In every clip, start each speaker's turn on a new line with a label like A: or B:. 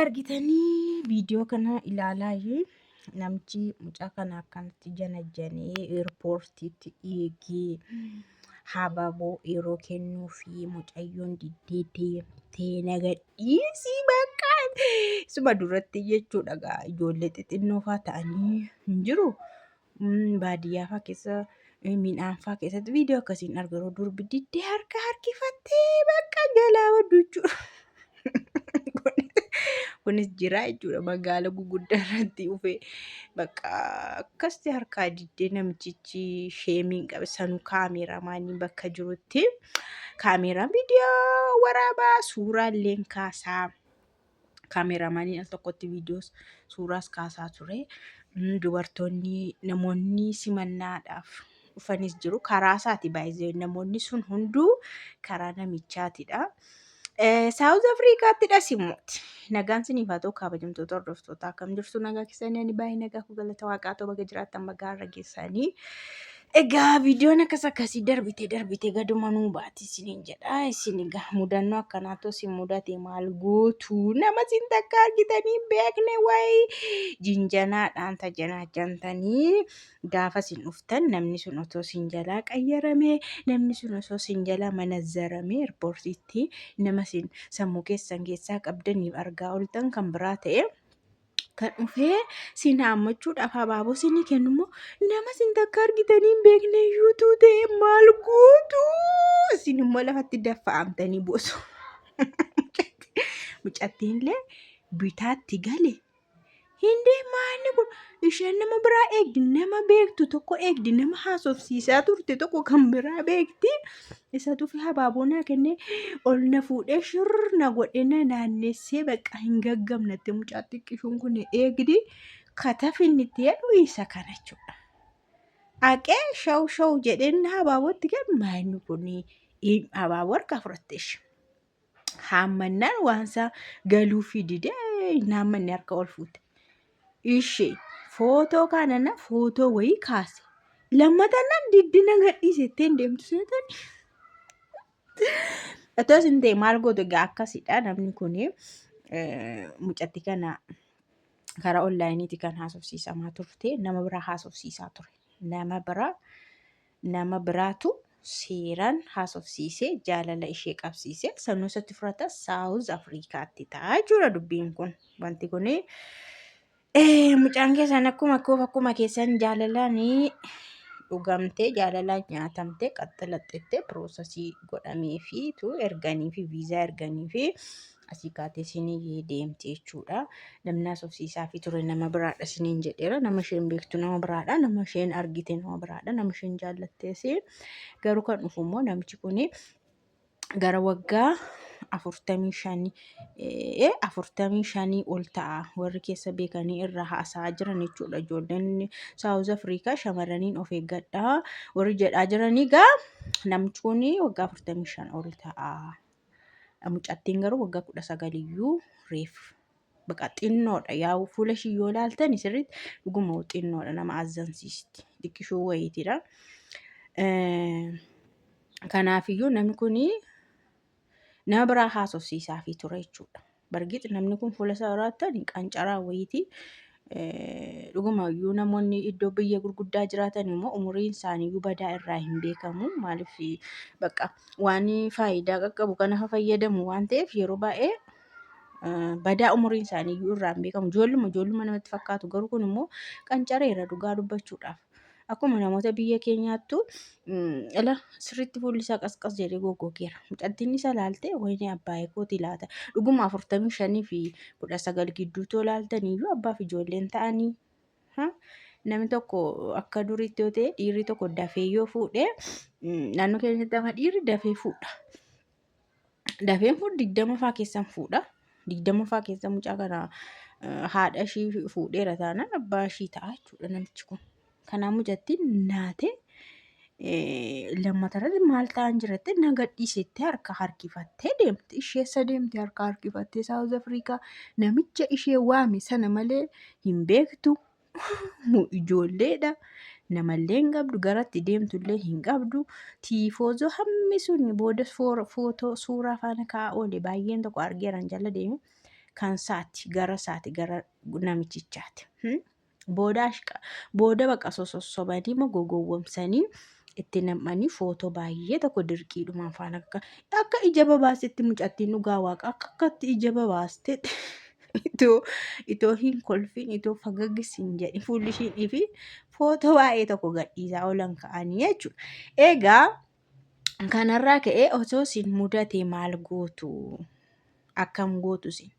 A: argitanii viidiyoo kana ilaalaa namichi mucaa kana akkanatti janajjanee eerpoortiitti eegee hababoo yeroo kennuu fi mucayyoon diddee deemtee nagadhiisii bakka suma duratti jechuudha gaa ijoollee xixinnoo faa ta'anii hin jiru. baadiyyaa fa'aa keessa midhaan fa'aa keessatti viidiyoo akkasiin arga yeroo durbi diddee harka harkifattee bakka jalaa waddu jechuudha. Kunis jira jechuudha magaala guguddaa irratti dhufee bakka akkasitti harkaa diddee namichichi sheemiin qabe sanu kaameeraamaanii bakka jirutti kaameeraan viidiyoo waraabaa suuraa illee kaasaa. kaameeraamaaniin al tokkotti viidiyoos suuraas kaasaa ture. Mm, Dubartoonni namoonni simannaadhaaf dhufanis jiru. Karaa isaati baay'ee namoonni sun hunduu karaa namichaatidha. Eh, Saawuz Afrikaatti dhasimuuti. Nagaan siniif haa ta'u kabajamtoota hordoftootaa akkam jirtu nagaa keessanii ani baay'ee nagaa koo galata waaqaa ta'u baga jiraattan baga har'a geessanii. Egaa viidiyoon akkas akkasii darbite darbite gaduma nuu baati isiniin jedha. Isin egaa mudannoo akkanaatu isin mudate maal gootu? Nama isin takka argitanii hin beekne wayi jinjanaadhaan tajanaajantanii gaafa isin dhuftan namni sun otoo isin jalaa qayyarame namni sun osoo isin jalaa manazzarame irpoortiitti nama isin sammuu keessan keessaa qabdaniif argaa oltan kan biraa ta'e. kan dhufee siin haammachuudhaaf habaaboo siinii kennu immoo nama siin takka argitanii hin beekne yuutuu ta'e maal gootu isin immoo lafatti daffa'amtanii boosu. Mucattiinillee bitaatti gale hin deemaa inni kun isheen nama biraa eegdi nama beektu tokko eegdi nama haasofsiisaa turte tokko kan biraa beekti Isa dhufe habaaboo naa kennee ol na fuudhee shirr na godhee na naannessee bakka hin gaggamnatte mucaa xiqqishuun kun eegdi katafinnitti jedhu isa kana jechuudha. Aqee shaw shaw jedheen habaabootti gad maayinni kun habaaboo harkaa fudhatteesh. Haammannaan waansaa galuufii didee naammanni harka ol fuute. Ishee footoo kaanana footoo wayii kaase. Lammataan nan diddina gadhiise ittiin deemtu seetan. Otoo isin ta'e maal gootu egaa akkasidha namni kun mucatti kana karaa onlaayiniiti kan haasofsiisamaa turte nama biraa haasofsiisaa ture. Nama biraa Nama biraatu seeraan haasofsiisee jaalala ishee qabsiise. Sanuu isatti fudhata Saawuz Afrikaatti ta'a jechuudha dubbiin kun. Wanti kun mucaan keessan akkuma koof akkuma keessan jaalalaan dhugamtee jaalalaan nyaatamtee qaxxalaxxettee piroosasii godhameefiitu erganiifi viizaa erganiifi asii kaatee siinii deemti jechuudha. Namni haasofsiisaa fi ture nama biraadha siniin jedheera. Nama isheen beektu nama biraadha. Nama isheen argite nama biraadha. Nama isheen jaallattees garuu kan dhufu immoo namichi kun gara waggaa afurtamii shanii eh, afurtamii shanii ol ta'a warri keessa beekanii irraa haasa'aa jiran jechuudha. Ijoolleen Saawuz Afrikaa shamarraniin of eeggadhaa warri jedhaa jiranii gaa namichi kun waggaa afurtamii shan ol ta'a. Mucattiin garuu waggaa kudha sagal iyyuu reef baqa xinnoodha yaa'u fuula ishii yoo ilaaltan sirriitti dhuguma xinnoodha nama azzansiisti xiqqishoo wayiitidha. Kanaafiyyuu namni kun nama biraa haasofsiisaafii ture jechuudha. Bargix namni kun fuula isaa irraattan qancaraa wayiitii dhuguma iyyuu namoonni iddoo biyya gurguddaa jiraatan immoo umuriin isaanii iyyuu badaa irraa hin beekamu. Maaliif bakka waan faayidaa qaqqabu kana haa fayyadamu waan ta'eef yeroo baay'ee badaa umuriin isaanii iyyuu irraa hin beekamu. Ijoolluma ijoolluma namatti fakkaatu garuu kun immoo qancareera dhugaa dubbachuudhaaf. Akkuma namoota biyya keenyaattu ala sirriitti fuulli isaa qasqas jedhee goggogeera. Mucattiin isa laaltee wayinee abbaayee kooti laata. Dhuguma afurtamii shanii fi kudha sagal gidduutuu laaltaniyyuu abbaaf ijoolleen ta'anii. Namni tokko akka duriitti yoo ta'e dhiirri tokko dafee yoo fuudhe naannoo keenyatti amma dhiirri dafee fuudha. dafeen fuudh digdama faa keessan fuudha digdama faa keessa mucaa kana haadha ishii fuudheera taanaan abbaa ishii ta'a jechuudha namichi kun kanaa mucattiin naatee lammatarratti maal ta'an jiratte na gadhiisetti harka harkifattee deemte isheessa deemte harka harkifattee saawuz afrikaa namicha ishee waame sana malee hin beektu nu ijoolleedha namallee hin qabdu garatti deemtullee hin qabdu tiifoozoo hammi sun booda footoo suuraa faana ka'aa oole baay'een tokko argeeran jala deeme kan saati gara saati gara namichichaati. Hmm? Booda ashqa booda baqa sosossobanii immoo gogowwomsanii itti nam'anii footoo baay'ee tokko dirqiidhumaan faana akka akka ija babaasetti mucattiin dhugaa waaqa akka akkatti ija babaastetti. itoo itoo hin kolfin itoo fagagis hin jedhin fuulli ishiidhii fi footoo waa'ee tokko gadhiisaa oolan ka'anii jechuudha. Egaa kanarraa ka'ee osoo isin mudate maal gootu? Akkam gootu isin?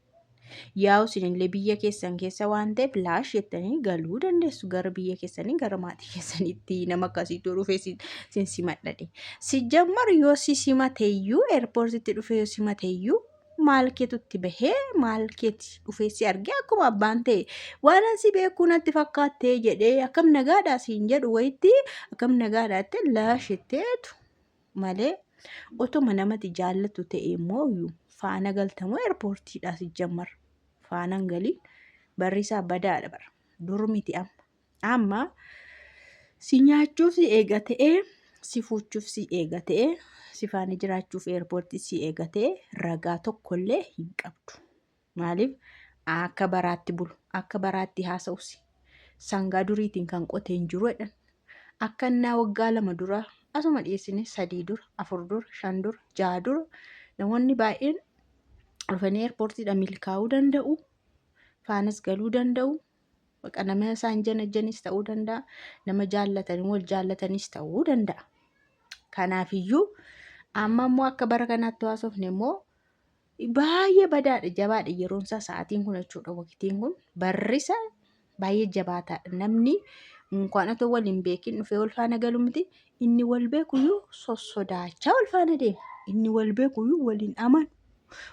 A: Yaa'u isinillee biyya keessan keessa waan ta'eef laash jettanii galuu dandeessu gara biyya keessanii gara maatii keessanitti nama akkasiitu dhufee isin isin simadhadhe. Sijjammar yoo si simateyyuu eerpoortitti dhufee yoo simateyyuu maal keetu itti bahee maal keeti dhufee si argee akkuma abbaan ta'e waan asi beekuu natti fakkaattee jedhee akkam nagaadhaa siin jedhu wayitti akkam nagaadhaatti laashitteetu malee otuma namati jaallatu ta'e immoo faana galtamoo eerpoortiidhaa si jammar faanan galii barrisaa badaadha bara dur miti amma Amma si nyaachuuf si eega ta'ee si fuuchuuf si eega ta'ee si faana jiraachuuf eerpoortii si eega ta'ee ragaa tokkollee hin qabdu. Maaliif akka baraatti bulu akka baraatti haasa'usi sangaa duriitiin kan qotee hin jiru jedhan akka innaa waggaa lama dura asuma dhiyeessine sadii dura afur dura shan dura jaha dura namoonni baay'een dhufanii eerpoortiidha milkaa'uu danda'u faanas galuu danda'u Baqa nama isaan janajjanis ta'uu danda'a. Nama jaallatanii wal jaallatanis ta'uu danda'a. Kanaafiyyuu amma immoo akka bara kanaatti haasofne immoo baay'ee badaadha jabaadha yeroon isaa sa'aatiin kun jechuudha waqtiin kun barrisa baay'ee jabaataadha namni unkaan otoo wal hin beekin dhufee wal faana galu miti inni wal beekuyyuu sossodaachaa wal faana deema inni wal beekuyyuu wal hin amanu.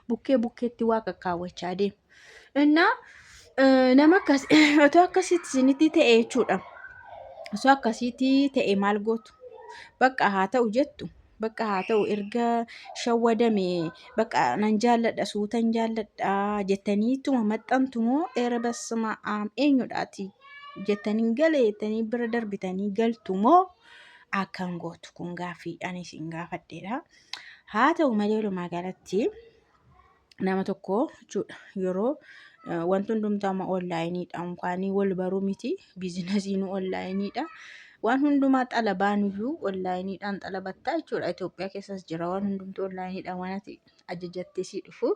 A: bukkee bukkeetti waa kakkaawwachaa deemu. Innaa eh, nama akkas otoo akkasitti isinitti ta'e jechuudha. Osoo akkasitti ta'e maal gootu? Bakka haa ta'u jettu. Bakka haa ta'u erga shawwadame bakka nan jaalladha suutan jaalladha jettanii ittuma maxxantu moo eera basma aam eenyudhaati jettanii galee jettanii bira darbitanii galtu moo akkan gootu kun gaaffii ani isin gaafadheedha. Haa ta'u malee walumaa galatti nama tokko jechuudha yeroo eh, wanti hundumtuu amma onlaayiniidha unkaanii wal baruu miti biizinasiinuu onlaayiniidha waan hundumaa xalabaanuyyuu onlaayiniidhaan xalabattaa jechuudha Itoophiyaa keessas jira waan hundumtuu onlaayiniidhaan waan ati ajajattee sii dhufu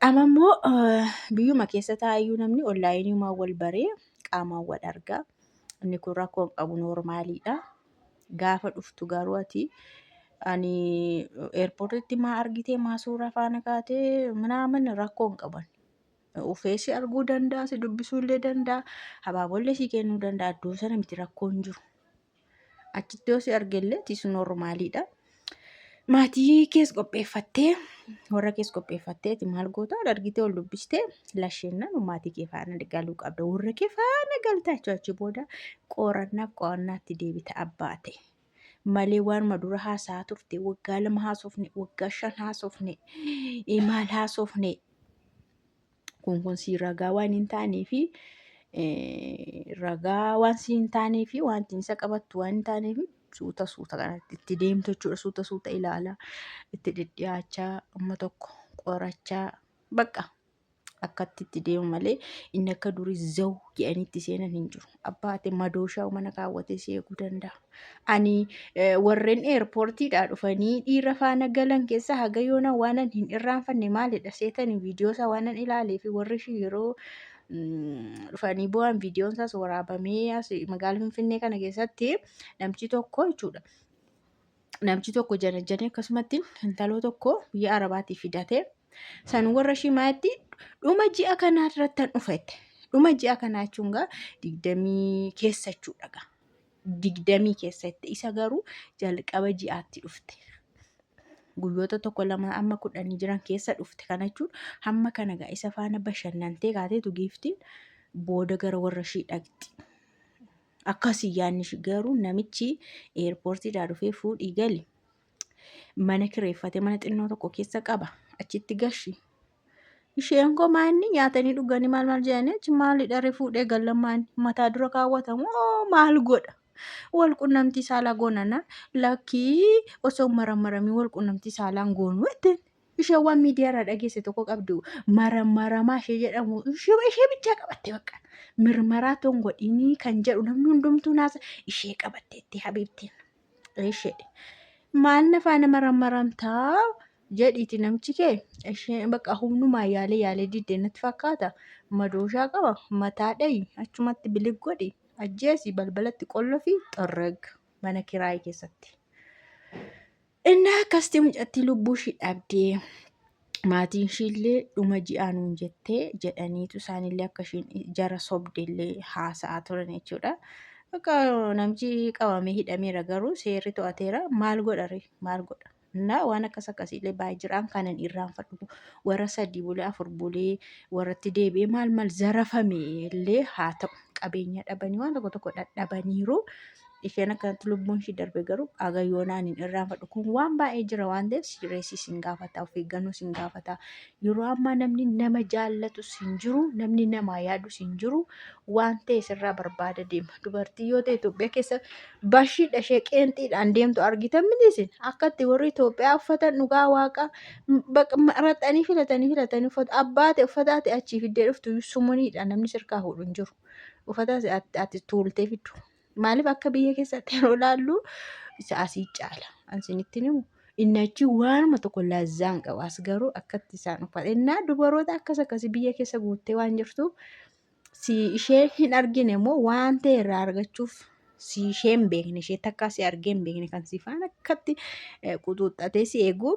A: amma immoo eh, biyyuma keessa taa'ayyuu namni onlaayiniimaan wal baree qaamaan wal argaa inni kun rakkoo hin qabu noormaaliidha Gaafa dhuftu garuu ati ani eerpoortitti maa argitee maa suuraa faana kaatee minaamin rakkoo hin qaban. Ufee si arguu danda'a, si dubbisuu illee danda'a, habaabollee si kennuu danda'a. Iddoo sana miti rakkoo hin jiru. Achitti yoo si argellee tis normaaliidha. maatii kees qopheeffattee warra kees qopheeffatteeti maal goota ol argitee ol dubbistee lasheennan maatii kee faana galuu qabda warra kee faana galtaa jechuu achi booda qorannaaf qo'annaatti deebita abbaa ta'e malee waanuma dura haasaa turte waggaa lama haasofne waggaa shan haasofne eh, maal haasofne kun kun sii ragaa waan hin taanee fi ragaa waan sii hin taanee fi wanti isa qabattu waan hin taanee fi suuta suuta kanatti itti deemtu jechuudha suuta suuta ilaala itti dhidhiyaachaa amma tokko qorachaa bakka akkatti itti deemu malee inni akka durii zawu jedhanitti seenan hin jiru. abbaate madooshaa mana kaawwatee si eeguu danda'a. Ani eh, warreen eerpoortiidhaa dhufanii dhiira faana galan keessaa haga yoona waanan hin irraanfanne maalidha seetanii viidiyoo isaa waanan ilaalee fi warri ishii yeroo mm, dhufanii bu'an viidiyoon isaas waraabamee as magaala Finfinnee kana keessatti namchi tokko jechuudha. Namchi tokko janajjanii akkasumatti intaloo tokko biyya Arabaatii fidatee San warra shimaatti dhuma ji'a kanaa irrattan dhufette. Dhuma ji'a kanaa jechuun gaa digdamii keessa jechuudha gaa. Digdamii keessatti isa garuu jalqaba ji'aatti dhufte. Guyyoota tokko lama amma kudhanii jiran keessa dhufte kana jechuun hamma kana gaa isa faana bashannantee kaateetu giiftiin booda gara warra ishii dhaqxi. Akkasii yaanni ishii garuu namichi eerpoortiidhaa dhufee fuudhii gali. mana kireeffate mana xinnoo tokko keessa qaba achitti gashi isheen koo maanni nyaatanii dhuganii maal maal jedhanii achi maalidha refuudhee gallammaan mataa dura kaawwatamu oo maal godha wal qunnamtii saalaa goonana lakkii osoo marammaramii wal qunnamtii saalaan goonuu ittiin ishee waan miidiyaarraa dhageesse tokko qabdu marammaramaa ishee jedhamu ishee ishee bichaa qabatte bakka mirmaraa toon godhinii kan jedhu namni hundumtuu naasa ishee qabatteetti habiibtiin. ishedhe maal nafaa nama rammaramtaa jedhiiti namchi kee ishee bakka humnumaa yaalee yaalee diddee natti fakkaata madooshaa qaba mataa dhayi achumatti bilig godhi ajjeesi balbalatti qollo fi xorreg mana kiraayii keessatti. Innaa akkasitti mucattii lubbuu ishii dhabdee maatiin ishiillee dhuma ji'aa nuun jettee jedhaniitu isaanillee akka ishiin jara sobdellee haasa'aa turan jechuudha. Akka namichi qabamee hidhameera garuu seerri to'ateera maal godha ree maal godha. Innaa waan akkas akkasiillee baay'ee jiraan kanan irraanfadhu warra sadii bulee afur bulee warratti deebi'ee maal maal zarafame illee haa ta'u qabeenya dhabanii waan tokko tokko dhadhabaniiru. isheen akkanatti lubbuun ishii darbe garuu haga yoonaa hin irraanfadhu kun waan baay'ee jira waan ta'eef sireessi sin gaafata of eeggannoo sin gaafata yeroo ammaa namni nama jaallatu sin jiru namni namaa yaadu sin jiru waan ta'e sirraa barbaada deema dubartii yoo ta'e Itoophiyaa keessa bashiidha ishee qeenxiidhaan deemtu argitan mitiisin akkatti warri Itoophiyaa uffatan dhugaa waaqa maraxanii filatanii filatanii uffata abbaa ta'e uffataa ta'e achii fiddee dhuftu sumaniidha namni sirkaa fuudhu hin jiru uffataa ati tuultee fiddu. Maaliif akka biyya keessatti yeroo ilaallu isa asii caala. Ansinitti himu inni achi waanuma tokko lazzaan qaba. As garuu akkatti isaan uffata. Innaa dubaroota akkas akkasii biyya keessa guuttee waan jirtuuf si ishee hin argine immoo waan ta'e irraa argachuuf si ishee hin beekne ishee takkaa si argee hin beekne kan si faana akkatti eh, quxuuxxatee si eegu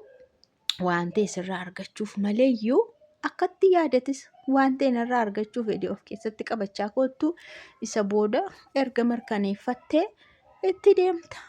A: waan ta'e sirraa argachuuf maleeyyuu akkatti yaadatis waan ta'e narraa argachuuf fedhii of keessatti qabachaa koottu isa booda erga mirkaneeffattee itti deemta.